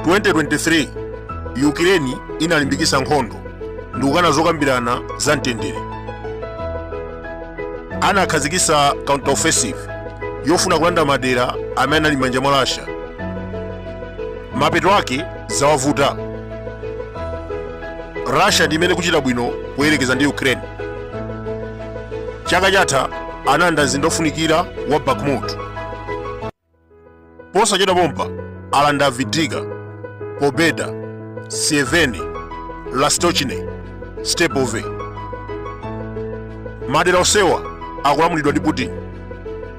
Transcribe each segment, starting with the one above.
2023 ukraine inalimbikisa nkhondo ndi kukana zokambirana za mtendere anakhazikisa counter offensive yofuna kulanda madera amene ali m'manja mwa russia mapeto ake zawavuta russia ndi imene kuchita bwino kuyerekeza ndi ukraine chaka chatha analanda mzinda ofunikira wa bakhmut posachedwa pompa alanda avdiivka pobeda sieverne lastochne stepove madera onsewa akulamulidwa ndi putin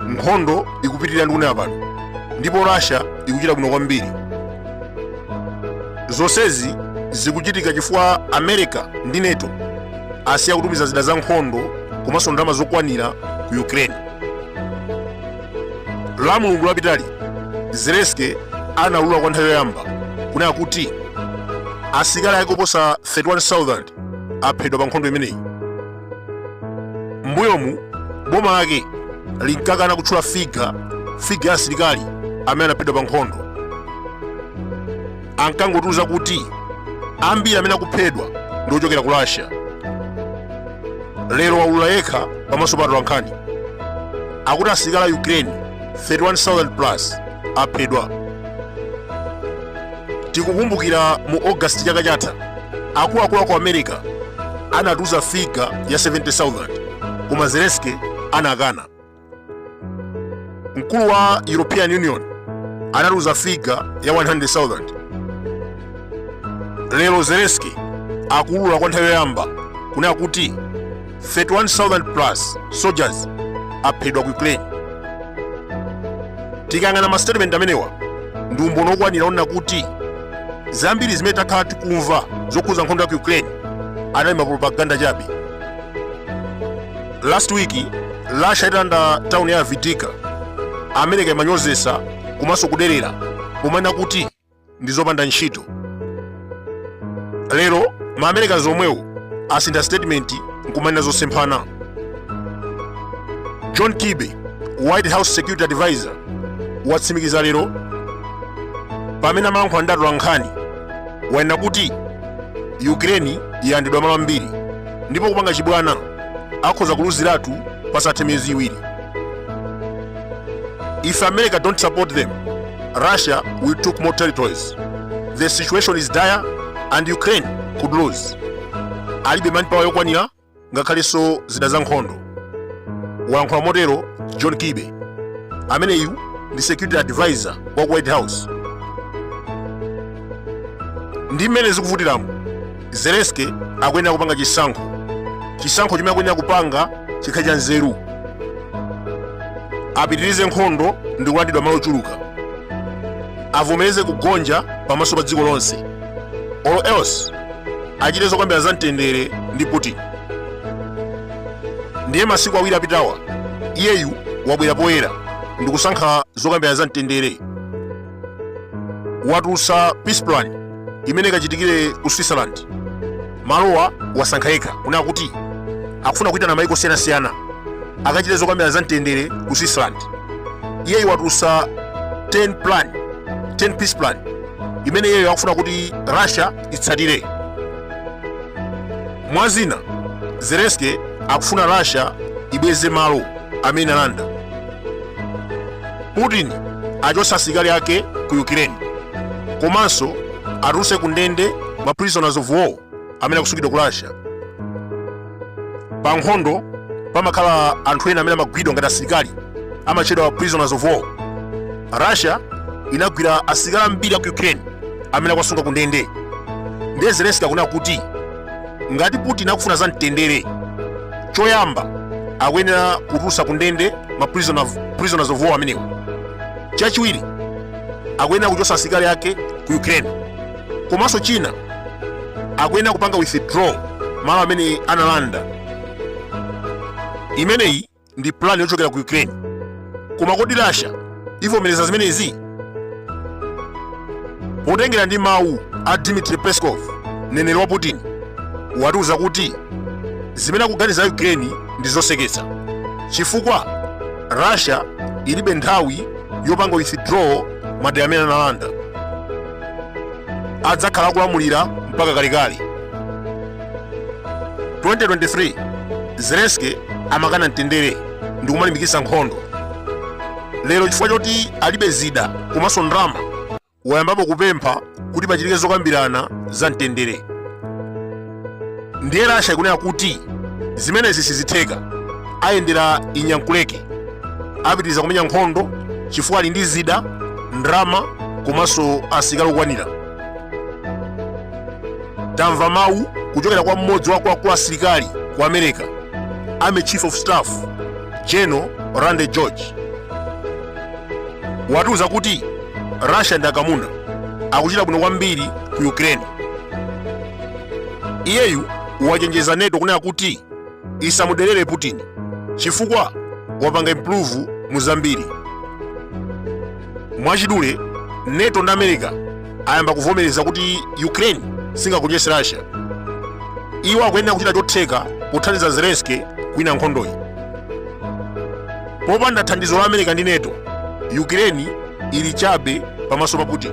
nkhondo ikupitirira ndikunena pano ndipo russia ikuchita bwino kwambiri zonsezi zikuchitika chifukwa america ndi nato asiya kutumiza zida za nkhondo komanso ndalama zokwanira ku ukraine la mulungu lapitali zelensky anaulula kwa nthawi yoyamba kunena kuti asilikali ake oposa 31000 aphedwa pa nkhondo imeneyi m'mbuyomu boma lake linkakana kutchula figa figa ya asilikali amene anaphedwa pa nkhondo ankangotiuza kuti ambiri amene akuphedwa ndi ochokera ku russia lero waulula yekha pamaso pa atolankhani akuti asilikali a ukraine 31000 plus aphedwa tikukumbukira mu august chaka chatha akuluakulu aku america anatiuza figa ya 70000 koma zelensky anakana mkulu wa european union anatiuza figa ya 100000 lero zelensky akuulula kwa nthawi yoyamba kunena kuti 31,000 plus soldiers aphedwa ku ukraine tikayang'ana ma statement amenewa ndi umboni wokwanira onena kuti zambiri zimene takhala tikumva zokhuza nkhondo ya ku ukraine anali mapropaganda chabe last week russia italanda tauni ya avdiivka america imanyozesa komanso kuderera pomanena kuti ndi zopanda ntchito lero ma americans omwewo asintha statement nkumanena zosemphana john kirby white house security advisor watsimikiza lero pamene amayankhula ndi atolankhani wanena kuti ukraine yalandidwa malo ambiri ndipo kupanga chibwana akhoza kuluziratu pasathe miyezi iwiri If America don't support them, Russia will took more territories. The situation is dire and Ukraine could lose. Alibe manpower yokwanira ngakhalenso zida za nkhondo. Walankhula motero John Kirby, ameneyu ndi security advisor wa ku White House. Ndi mmene zikuvutiramu, zelensky akuyenera kupanga chisankho chisankho chimene akuyenera kupanga chikhale cha nzeru apitirize nkhondo ndi kulandidwa malo ochuluka avomereze kugonja pamaso pa dziko lonse or else achite zokambira za mtendere ndi putin ndiye masiku awiri apitawa iyeyu wabwera poyera ndikusankha zokambira za mtendere watulutsa peace plan imene ikachitikire ku switzerland malowa wasankha yekha kunena kuti akufuna kuitana maiko osiyanasiyana akachite zokambira za mtendere ku switzerland iyeyu watulutsa 10 peace plan imene iyeyo akufuna kuti russia itsatire mwa zina zelensky akufuna russia ibweze malo amene alanda putin achotse asilikali ake ku ukraine komanso atulutse ku ndende ma prisoners of war amene akusungidwa ku russia pa nkhondo pamakhala anthu ena amene amagwidwa ngati asilikali amatchedwa prisoners of war russia inagwira asilikali ambiri aku ukraine amene akuwasunga ku ndende ndiye zelensky akunena kuti ngati putin akufuna za mtendere choyamba akuyenera kutulutsa ku ndende ma prisoners of war amenewa chachiwiri akuyenera kuchotsa asilikali ake ku ukraine komanso china akuyenera kupanga withdraw malo amene analanda imeneyi ndi pulani yochokera ku ukraine koma kodi russia ivomereza zimenezi potengera ndi mawu a dmitri peskov mneneri wa putin watiuza kuti zimene akuganiza ukraine ndi zoseketsa chifukwa russia ilibe nthawi yopanga withdraw madera amene analanda adzakhala akulamulira mpaka kalekale 2023 zelensky amakana mtendere ndi kumalimbikitsa nkhondo lero chifukwa choti alibe zida komanso ndalama wayambapo kupempha kuti pachitike zokambirana za mtendere ndiye russia ikunena kuti zimenezi sizitheka ayendera inyankuleke apitiriza kumenya nkhondo chifukwa ali ndi zida ndalama komanso asilikali okwanira tamva mawu kuchokera kwa mmodzi wa akuluakulu asilikali ku america army chief of staff general randy george watiuza kuti russia ndi akamuna akuchita bwino kwambiri ku ukraine iyeyu wachenjeza nato kunena kuti isamuderere Putin chifukwa wapanga improve mu zambiri. Mwachidule, NATO ndi America ayamba kuvomereza kuti Ukraine singagonjetse Russia. Iwo akuyenera kuchita chotheka pothandiza Zelensky kuwina nkhondoyi. Popanda thandizo la America ndi NATO, Ukraine ili chabe pamaso pa Putin.